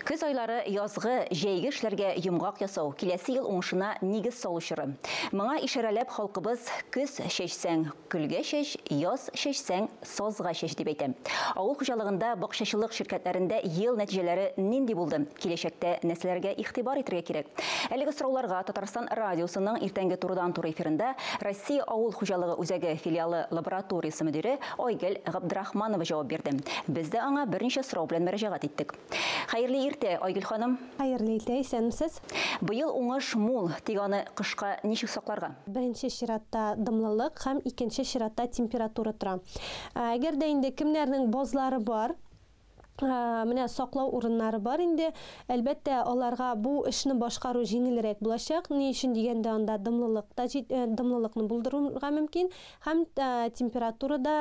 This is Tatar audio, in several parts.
Көз айлары язгы, җәйге эшләргә йомгак ясау, киләсе ел уңышына нигез салу чоры. Моңа ишарәләп халкыбыз Көз чәчсәң, көлгә чәч, яз чәчсәң, сазга чәч дип әйтә. Авыл хуҗалыгында, бакчачылык ширкәтләрендә ел нәтиҗәләре нинди булды, киләчәктә нәрсәләргә игътибар итәргә кирәк? Әлеге сорауларга Татарстан радиосының иртәнге турыдан-туры эфирында Россия авыл хуҗалыгы үзәге филиалы лабораториясе мөдире Айгөл Габдрахманова җавап бирде. Без дә аңа берничә сорау белән мөрәҗәгать иттек. Хәерле иртә, Айгөл ханым! Хәерле иртә, исәнмесез! Быел уңыш мул, тик аны кышка ничек сакларга? Беренче чиратта дымлылык һәм икенче чиратта температура тора. Әгәр дә инде кемнәрнең базлары бар, менә саклау урыннары бар инде. Әлбәттә, аларга бу эшне башкару җиңелрәк булачак. Ни өчен дигәндә, анда дымлылык та җит, дымлылыкны булдырырга мөмкин һәм температура да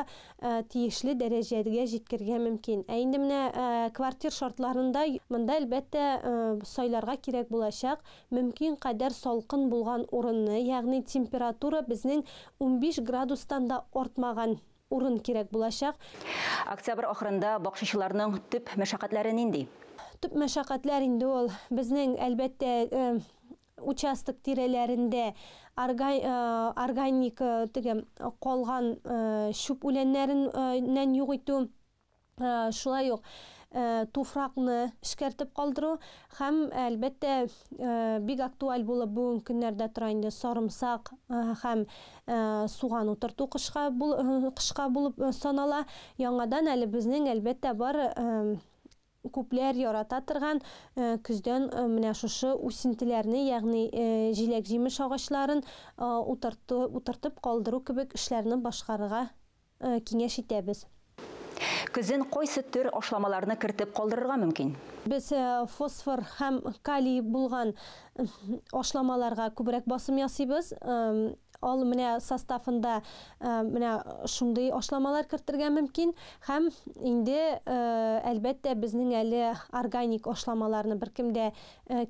тиешле дәрәҗәгә җиткергә мөмкин. Ә инде менә квартир шартларында монда, әлбәттә, сайларга кирәк булачак мөмкин кадәр салкын булган урынны, ягъни температура безнең унбиш градустан да артмаган. Урын кирәк булачак. Октябрь ахырында бакчачыларның төп мәшәкатьләре нинди? Төп мәшәкатьләр инде ул безнең, әлбәттә, участок тирәләрендә органик теге калган чүп үләннәреннән юк итү. шулай ук туфракны эшкәртеп калдыру һәм әлбәттә бик актуаль булып бүгенге көннәрдә тора инде сарымсак һәм суган утырту кышка кышка булып санала яңадан әле безнең әлбәттә бар күпләр ярата торган көздән менә шушы үсентеләрне ягъни җиләк җимеш агачларын утырту утыртып калдыру кебек эшләрне башкарырга киңәш итәбез. Көзен кайсы төр ашламаларны кертеп калдырырга мөмкин? Без фосфор һәм калий булган ашламаларга күбрәк басым ясыйбыз. Ал менә составында менә шундый ашламалар кертергә мөмкин. Һәм инде, әлбәттә, безнең әле органик ашламаларны беркем дә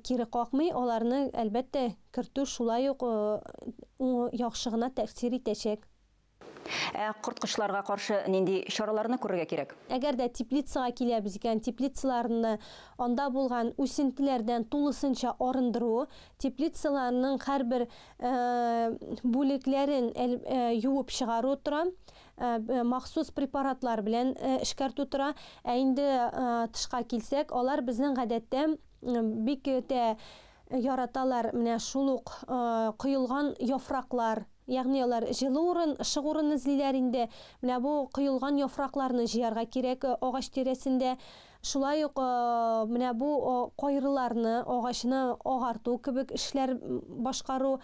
кире какмый. Аларны, әлбәттә, кертү шулай ук яхшы гына тәэсир итәчәк. Ә корткычларга каршы нинди чараларны күрергә кирәк? Әгәр дә теплицага киләбез икән, теплицаларны анда булган үсентеләрдән тулысынча арындыру, теплицаларның һәрбер бүлекләрен юып чыгару тора, махсус препаратлар белән эшкәртү тора. Ә инде тышка килсәк, алар безнең гадәттә бик тә Яраталар менә шул ук коелган яфраклар, ягъни алар җылы урын, ышык урын эзлиләр инде. Менә бу коелган яфракларны җыярга кирәк агач тирәсендә. Шулай ук менә бу кайрыларны, агачны агарту кебек эшләр башкару.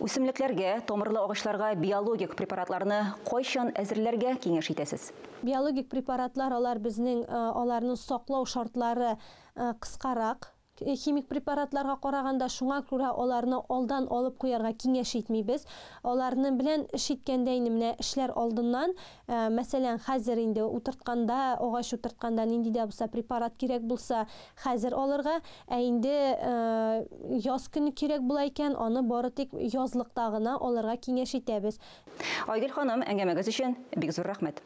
Үсемлекләргә, тамырлы агачларга биологик препаратларны кайчан әзерләргә киңәш итәсез? Биологик препаратлар алар безнең аларны саклау шартлары кыскарак, Химик препаратларга караганда, шуңа күрә аларны алдан алып куярга киңәш итмибез. Аларны белән эш иткәндә инде менә эшләр алдыннан, мәсәлән, хәзер инде утыртканда, агач утыртканда нинди дә булса препарат кирәк булса, хәзер алырга, ә инде яз көне кирәк була икән, аны бары тик язлыкта гына алырга киңәш итәбез. Айгөл ханым, әңгәмәгез өчен бик зур рәхмәт!